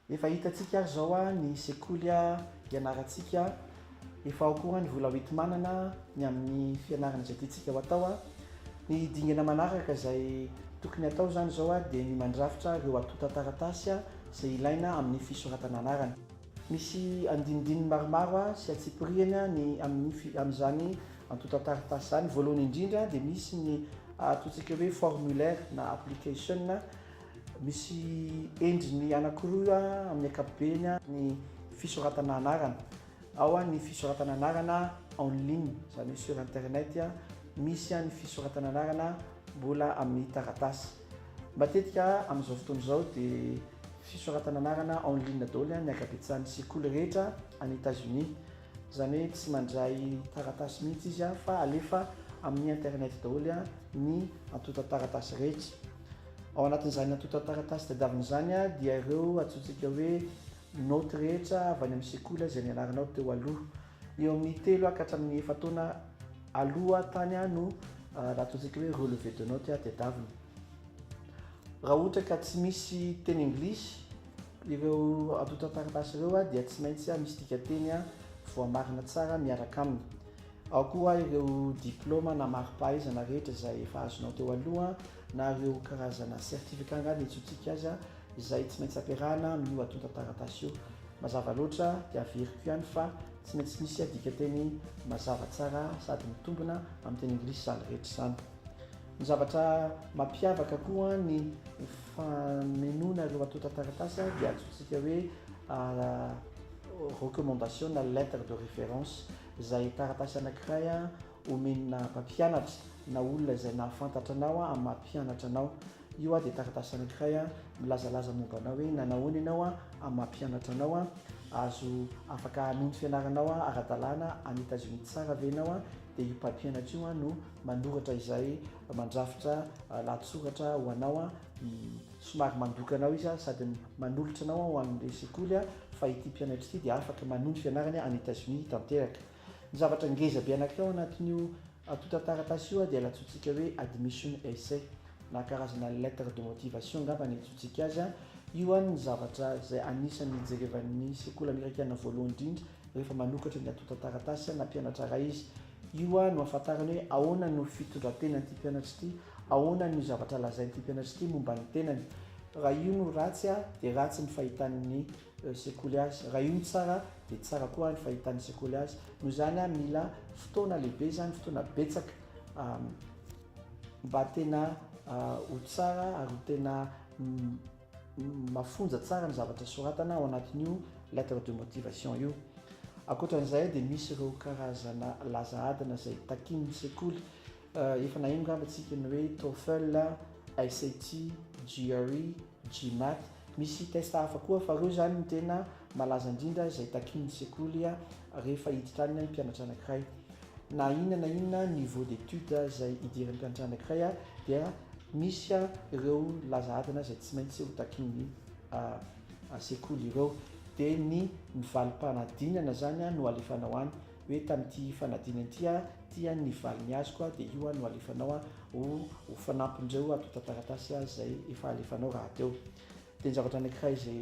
Efa hitantsika ary zao ah ny sekoly ah ianarantsika ah efa ao koa ny vola hoentimanana ny amin'ny fianarana izay tiantsika ho atao ah ny dingana manaraka izay tokony hatao zany zao ah dia ny mandrafitra ireo antontan-taratasy ah izay ilaina amin'ny fisoratana anarana. Misy andinindininy maromaro ah sy antsipirihany ah ny amin'ny fi amin'izany antontan-taratasy izany, voalohany indrindra dia misy ny atontsika hoe formulaire na application ah Misy endriny anankiroa amin'ny ankapobeny ny fisoratana anarana. Ao ny fisoratana anarana en ligne, izany hoe sur internet, misy ny fisoratana anarana mbola amin'ny taratasy. Matetika amin'izao fotoana izao dia fisoratana anarana en ligne daholo ny ankabetsahan'ny sekoly rehetra any Etazonia. Izany hoe tsy mandray taratasy mihitsy izy fa alefa amin'ny internet daholo ny antontan-taratasy rehetra. Ao anatin'izany antontan-taratasy tadiavina izany dia ireo antsointsika hoe naoty rehetra avy any amin'ny sekoly izay nianaranao teo aloha. Eo amin'ny telo ka hatramin'ny efa-taona aloha tany no antsointsika hoe relevé de notes tadiavina. Raha ohatra ka tsy misy teny anglisy ireo antontan-taratasy ireo dia tsy maintsy misy dikateny voamarina tsara miaraka aminy. Ao koa ireo diplaoma na mari-pahaizana rehetra izay efa azonao teo aloha na ireo karazana certificat angaha ny antsointsika azy izay tsy maintsy ampiarahana amin'io antontan-taratasy io. Mazava loatra dia averiko ihany fa tsy maintsy misy dikanteny mazava tsara sady mitombina amin'ny teny anglisy izany rehetra izany. Ny zavatra mampiavaka koa ny famenoana ireo antontan-taratasy dia antsointsika hoe recommandation na lettre de référence. izay taratasy anankiray omenà mpampianatra na olona izay nahafantatra anao amin'ny maha mpianatra anao. Io dia taratasy anankiray milazalaza momba anao hoe nanao ahoana ianao amin'ny maha mpianatra anao. Azo afaka hanohy ny fianaranao ara-dalàna any Etazonia tsara ve ianao, dia io mpampianatra io no manoratra izay mandrafitra lahatsoratra ho anao. somary mandoka anao izy a, sady manolotra anao aho ho an'ilay sekoly a, fa ity mpianatra ity dia afaka manohy ny fianarany any Etazonia tanteraka. Ny zavatra ngeza be anankiray ao anatin'io antontan-taratasy io dia nantsointsika hoe admission essay, na karazana lettre de motivation angamba ny iantsointsika azy a, io any ny zavatra izay anisan'ny ijerevan'ny sekoly amerikana voalohany indrindra rehefa manokatra ny antontan-taratasy na mpianatra iray izy. Io a no ahafantarany hoe ahoana no fitondran-tenan'ity mpianatra ity. Ahoana ny zavatra lazain'ity mpianatra ity momba ny tenany? Raha io no ratsy dia ratsy ny fahitan'ny sekoly azy, raha io no tsara dia tsara koa ny fahitan'ny sekoly azy. Noho izany mila fotoana lehibe izany, fotoana betsaka mba tena ho tsara ary ho tena mafonja tsara ny zavatra soratana ao anatin'io lettre de motivation io. Ankoatra an'izay dia misy ireo karazana laza adina izay takian'ny sekoly. Efa naheno ngamba tsika ny hoe TOEFL, SAT, GRE, GMAT. Misy test hafa koa fa reo zany ny tena malaza indrindra izay takin'ny sekoly rehefa hiditra any ny mpianatra anakiray. Na inona na inona niveau d'études izay hidiran'ny mpianatra anakiray dia misy ireo laza adina izay tsy maintsy ho takin'ny sekoly ireo. Dia ny ny valim-panadinana zany no alefanao any. hoe tamin'ity fanadinana ity aho tia ny valiny azoko aho dia io aho no alefanao aho ho ho fanampin'ireo antontan-taratasy aho izay efa alefanao rahateo dia ny zavatra anankiray izay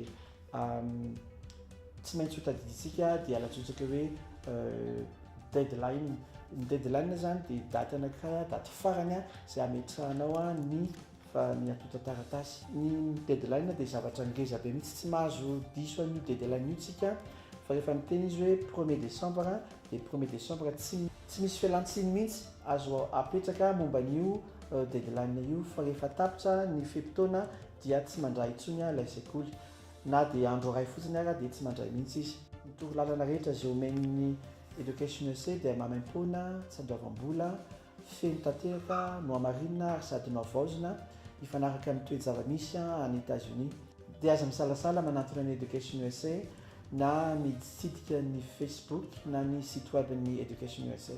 tsy maintsy ho tadidintsika dia alatsotsaka hoe deadline ny deadline zany dia daty anankiray daty farany izay ametrahanao ny fa ny atonta taratasy. Ny deadline dia zavatra ngeza be mihitsy, tsy mahazo diso an'io deadline io tsika fa rehefa miteny izy hoe premier décembre dia premier décembre tsy tsy misy fialantsiny mihitsy azo apetraka momba an'io deadline io fa rehefa tapitra ny fe-potoana dia tsy mandray intsony ilay sekoly na dia andro iray fotsiny ara dia tsy mandray mihitsy izy. Ny torolalana rehetra izay omen'ny Education Usa dia maimaimpoana, tsy andoavam-bola, feno tanteraka, nohamarinina ary sady nohavaozina hifanaraka amin'ny toe-javamisy any Etazonia. Dia aza misalasala manatona ny Education usa na miditsidika ny Facebook na ny site web-n'ny Education usa.